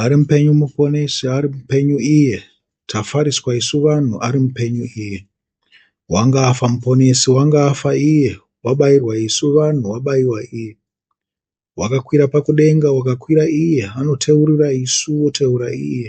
ari mupenyu muponesi ari mupenyu iye tafariswa isu vanhu ari mupenyu iye wanga afa muponesi wanga afa iye wabairwa isu vanhu wabaiwa iye wakakwira pakudenga wakakwira iye anoteurura isu woteura iye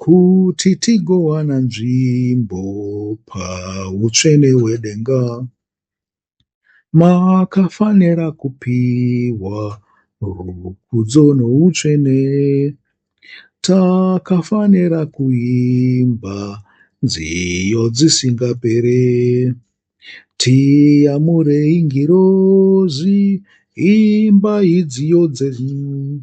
kuti tigowana nzvimbo pautsvene hwedenga makafanira kupiwa rukudzo noutsvene takafanira kuimba nziyo dzisingapere tiyamurei ngirozi imba idziyo dzenyu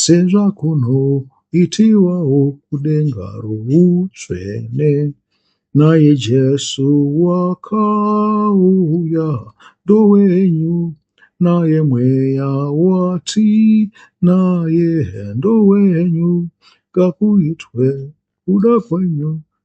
sezvakunoitiwawo kudenga routsvene. Naye Jesu wakauya ndowenyu, naye mweya wati naye ndowenyu, ngakuitwe kuda kwenyu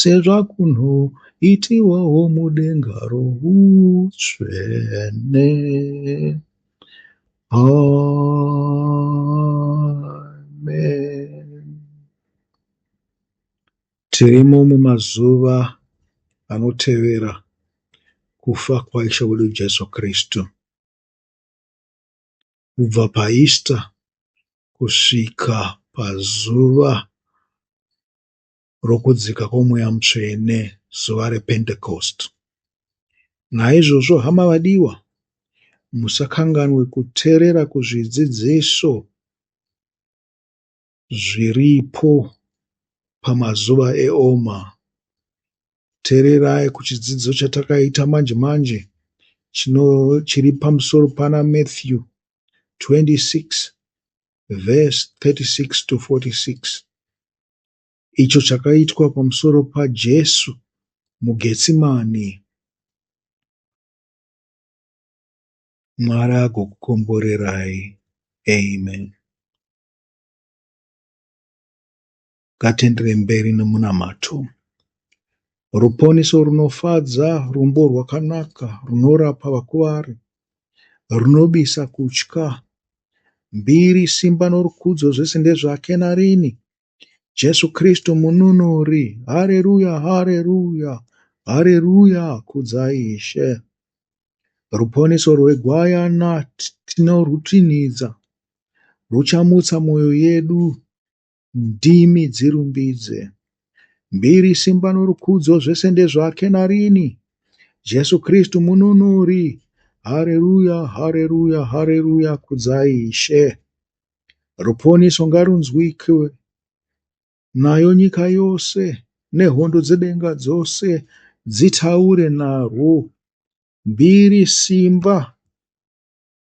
sezvakuno itiwawo mudenga routsvene. Amen. Tirimo mumazuva anotevera kufa kwaIshe wedu Jesu Kristu. Kubva paEaster kusvika pazuva rokudzika kwoMweya Mutsvene, zuva rePentekosti. Naizvozvo, hama vadiwa, musakanganwe kuteerera kuzvidzidziso zviripo pamazuva eOma. Teererai kuchidzidzo chatakaita manje manje chiri pamusoro pana Matthew 26 verse 36 to 46 icho chakaitwa pamusoro paJesu muGetsimani. Mwari agokukomborerai. Amen. Ngatienderei mberi nemunamato. Ruponiso runofadza, rumbo rwakanaka runorapa vakuvari. runobisa kutya. Mbiri, simba norukudzo zvese ndezvake narini. Jesu Kristu mununuri. Hareruya, hareruya, hareruya, kudzai Ishe. Ruponiso rwegwayana tinorwutinhidza, ruchamutsa mwoyo yedu ndimi dzirumbidze. Mbiri simba norukudzo zvese ndezvake narini. Jesu Kristu mununuri. Hareruya, hareruya, hareruya, kudzai Ishe. Ruponiso ngarunzwike nayo nyika yose nehondo dzedenga dzose dzitaure narwo. Mbiri simba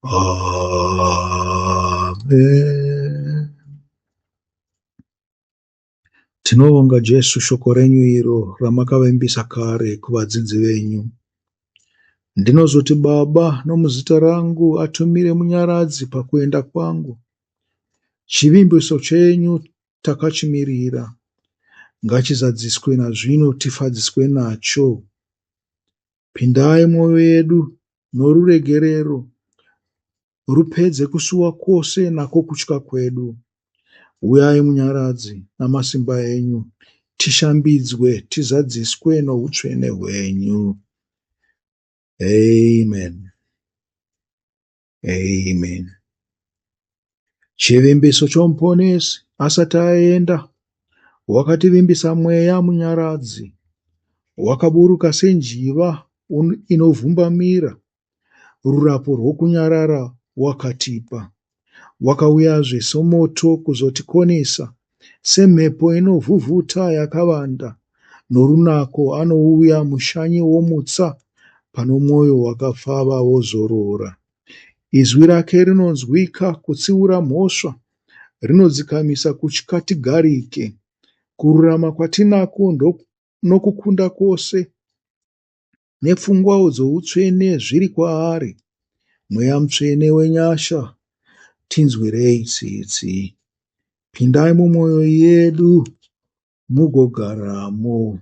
Amen. Tinobonga Jesu shoko renyu iro ramakavimbisa kare kuvadzidzi venyu. Ndinozoti Baba nomuzita rangu atumire munyaradzi pakuenda kwangu. Chivimbiso chenyu takachimirira ngachizadziswe nazvino tifadziswe nacho. Pindai mwoyo yedu noruregerero, rupedze kusuwa kwose nako kutya kwedu. Uyai munyaradzi namasimba enyu, tishambidzwe, tizadziswe noutsvene hwenyu. Amen. Amen. Chivimbiso chomuponesi asati aenda wakativimbisa mweya munyaradzi wakaburuka senjiva inovhumbamira rurapo rwokunyarara wakatipa wakauya zvesomoto kuzotikonesa Semhepo inovhuvhuta yakavanda, norunako anouya mushanyi womutsa pano mwoyo wakapfava wozorora. Izwi rake rinonzwika kutsiura mhosva, rinodzikamisa kutya tigarike. Kururama kwatinako nokukunda kwose nepfungwawo dzoutsvene zviri kwaari. Mweya Mutsvene wenyasha, tinzwirei tsitsi. Pindai mumwoyo yedu mugogaramo.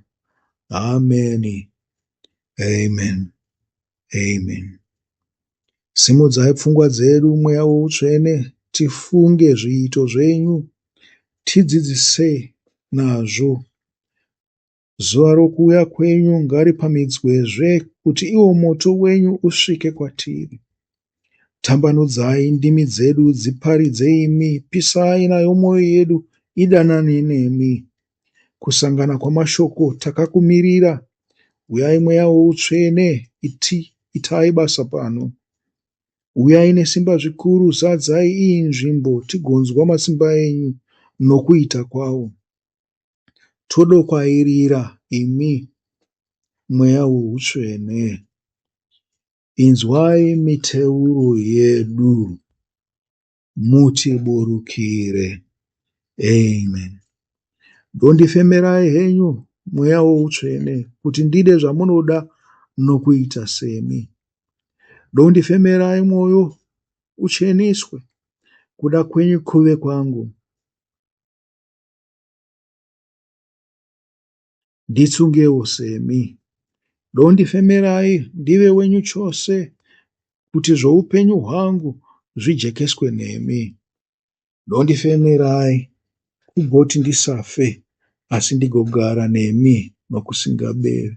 Ameni. Amen. Amen. Simudzai pfungwa dzedu mweya woutsvene tifunge zviito zvenyu tidzidzise nazvo Zuva rokuuya kwenyu ngaripamhidzwezve, kuti iwo moto wenyu usvike kwatiri. Tambanudzai ndimi dzedu dziparidze imi, pisai nayo mwoyo yedu idanane nemi. Kusangana kwamashoko takakumirira, uyai mweya woutsvene, iti itai basa pano. Uyai nesimba zvikuru, zadzai iyi nzvimbo, tigonzwa matsimba enyu nokuita kwawo. Todokwairira imi mweya weutsvene Inzwai miteuro yedu mutiburukire Amen Dondifemerai henyu mweya weutsvene Kuti ndide zvamunoda nokuita semi Dondifemerai mwoyo ucheniswe Kuda kwenyu kuve kwangu Nditsungewo semi, dondifemerai ndive wenyu chose, kuti zvoupenyu hwangu zvijekeswe nemi. Dondifemerai kugoti ndisafe, asi ndigogara nemi nokusingaperi.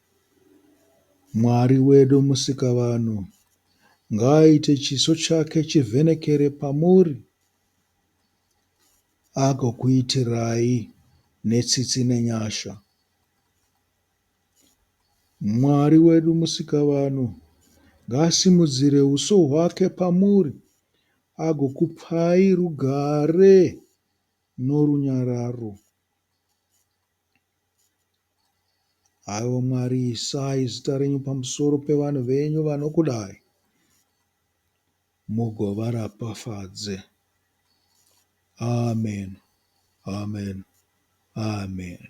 Mwari wedu Musikavanhu ngaaite chiso chake chivhenekere pamuri agokuitirai netsitsi nenyasha. Mwari wedu Musikavanhu ngaasimudzire uso hwake pamuri agokupai rugare norunyararo. Haiwa Mwari, isai zita renyu pamusoro pevanhu venyu vanokudai, mugovaropafadze. Ameni, ameni, ameni.